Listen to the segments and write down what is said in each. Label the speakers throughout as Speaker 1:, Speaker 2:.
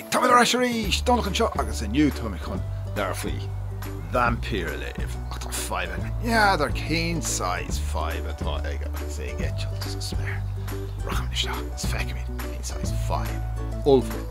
Speaker 1: Tá muid ar ais arís! Donncha anseo agus inniu tá mé chun leabhar faoi vaimpír a léamh, ach tá fadhb aige. N'fheadar cén saghas fadhb atá aige agus é ag eitilt sa spéir. Rachaimid isteach agus feicfimid cén saghas fadhb. Ollmhór.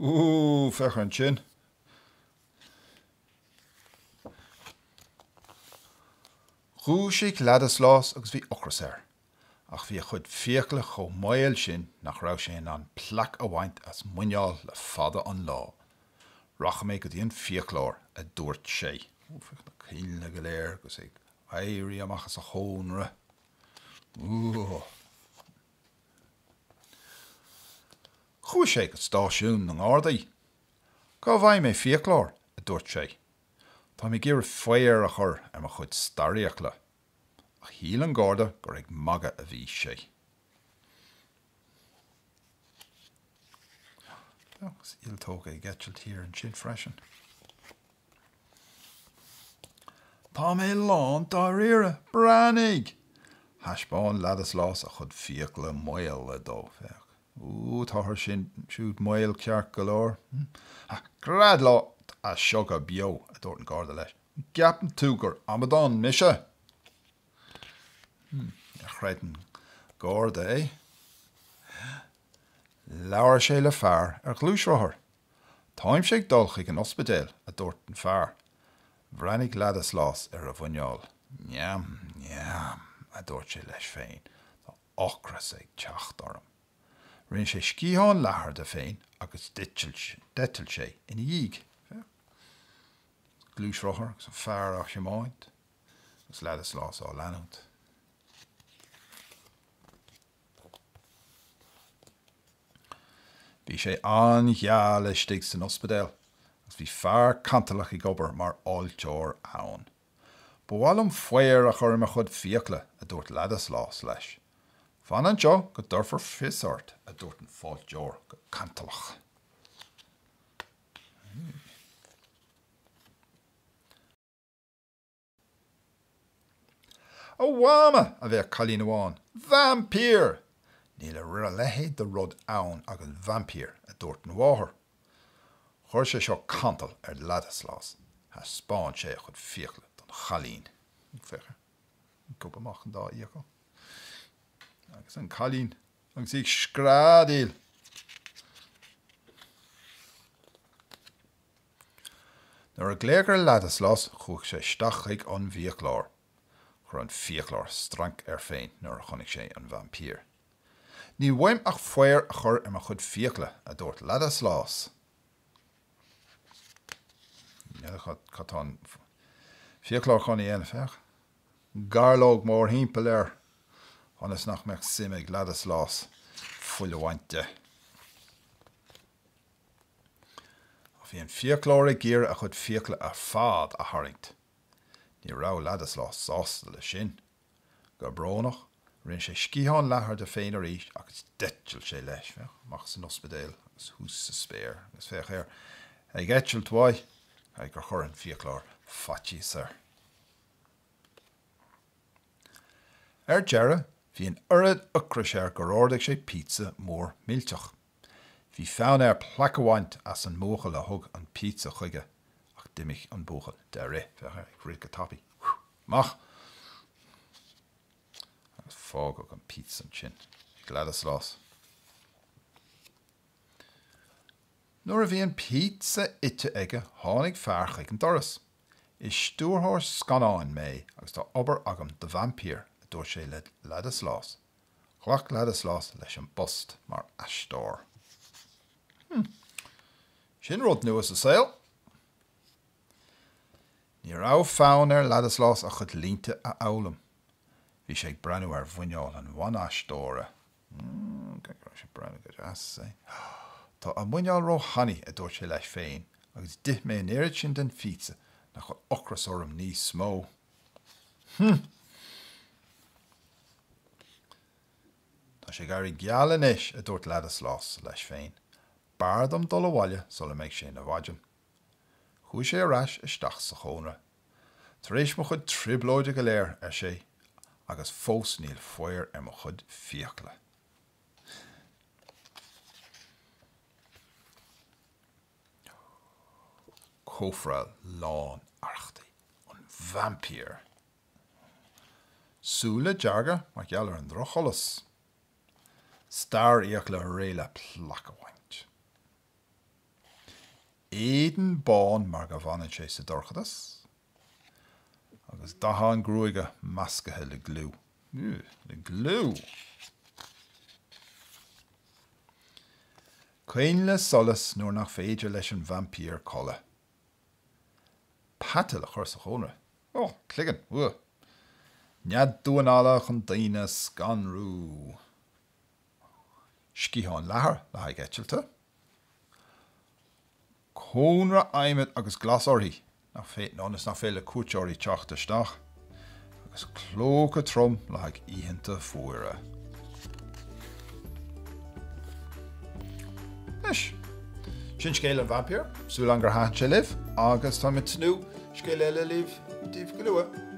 Speaker 1: Ooh, féach ansin. Dhúisigh Ladislas agus bhí ocras air, ach bhí a chuid fiacla chomh maol sin nach raibh sé in ann plaic a bhaint as muineál le fada an lá. Rachaidh mé go dtí an fiaclóir, a dúirt sé. Ooh, féach na coinnle go léir agus é ag éirí amach as a chónra. Ooh. Chuaigh sé go stáisiún na nGardaí. Cá bhfaighidh mé fiaclóir? a dúirt sé. Tá mé ag iarraidh faobhar a chur ar mo chuid starrfhiacla. Ach shíl an Garda gur ag magadh a bhí sé. Agus ialtóga ag eitilt thiar ansin freisin. Tá mé lán dáiríre. Breathnaigh! Thaispeáin Ladislas a chuid fiacla maola dó. Féach. Ooh táthar sin siúd maol ceart go leor. Ha, gread leat as seo go beo, a dúirt an Garda leis. An gceapann tú gur amadán mise? Hm, ar chreid an Garda é. Labhair sé le fear ar ghluaisrothar. Táimse ag dul chuig an ospidéal, a dúirt an fear. Bhreathnaigh Ladislas ar a mhuineál. Neam, neam, a dúirt sé leis féin. Tá ocras ag teacht orm. Rinne sé sciathán leathair de féin agus d'eitil sé ina dhiaidh. Féach. Gluaisrothar agus an fear á thiomáint agus Ladislas á leanúint. Bhí sé an-gheal istigh san ospidéal agus bhí fear cantalach ag obair mar fháilteoir ann. Ba mhaith liom faobhar a chur ar mo chuid fiacla, a dúirt Ladislas leis. Fan anseo go dtabharfar fios ort, a dúirt an fáilteoir go cantalach. A Mhama! a bhéic cailín amháin. Vaimpír! Níl a leithéid de rud ann agus vaimpír, a dúirt an mháthair. Chuir sé seo cantal ar Ladislas. Thaispeáin sé a chuid fiacla don chailín, féach, ag gobadh amach an dá fhiacail, agus an cailín, agus í ag screadaíl, Nuair a glaodh ar Ladislas, chuaigh sé isteach chuig an bhfiaclóir. Chuir an fiaclóir strainc air féin nuair a chonaic sé an vaimpír. Níl uaim ach faobhar a chur ar mo chuid fiacla, a dúirt Ladislas. Féach cad atá an fiaclóir chun a dhéanamh, féach. Gairleog mórthimpeall air ionas nach mbeadh suim ag Ladislas fuil a bhaint de. Ach bhí an fiaclóir ag iarraidh a chuid fiacla ar fad a tharraingt. Ní raibh Ladislas sásta leis sin. Go brónach, rinne sé sciathán leathair de féin arís agus d'eitil sé leis. Féach amach as an ospidéal agus thuas sa spéir agus féach air ag eitilt uaidh, caithfidh gur chuir an fiaclóir faitíos air. Ar deireadh, bhí an oiread ocrais air gur ordaigh sé pizza mór millteach. Bhí fonn air plaic a bhaint as an mbuachaill a thug an pizza chuige, ach d'imigh an buachaill de rith. Féach air ag rith go tapaidh. amach agus fágadh an píotsa ansin ag Ladislas. Nuair a bhí an píotsa ite aige tháinig fear chuig an doras. Is stiúrthóir scannáin mé agus tá obair agam do vaimpír, a dúirt sé le Ladislas. Ghlac Ladislas leis an bpost mar aisteoir. Hmm. Sin rud nua sa saol! Ní raibh fonn ar Ladislas a chuid línte a fhoghlaim. Bhí sé ag breathnú ar mhuineál an bhan-aisteora. Tá a muineál ró-thanaí, a dúirt sé leis féin, agus d'ith mé an oiread sin den phíotsa nach bhfuil ocras orm níos mó. Hmm. Tá sé ag éirí geal anois, a dúirt Ladislas leis féin. B'fhearr dom dul abhaile sula mbeidh sé ina mhaidin. Chuaigh sé ar ais isteach sa chónra. 'Tar éis mo chuid trioblóide go léir, ar sé, 'agus fós níl faobhar ar mo chuid fiacla. Cófra lán arrachtaí an vaimpír. Súile dearga mar gheall ar an drochsholas. Starrfhiacla réidh le plaic a bhaint. Éadan bán mar go bhfanann sé sa dorchadas, agus dath a ghruaige meascaithe le gliú. Le gliú! Coinneal le solas nuair nach féidir leis an vaimpír codladh. Peata le cur sa chónra. Oh, cloigeann! Nead damháin alla chun daoine a scanrú. sciatháin leathair le haghaidh eitilte, cónra adhmaid agus glas uirthi ionas nach féidir le cuairteoirí teacht isteach, agus clóca trom le haghaidh oícheanta fuara. Anois, sin scéal an vaimpír. Súil agam gur thaitin sé libh, agus táim ag tnúth le scéal eile a léamh daoibh go luath.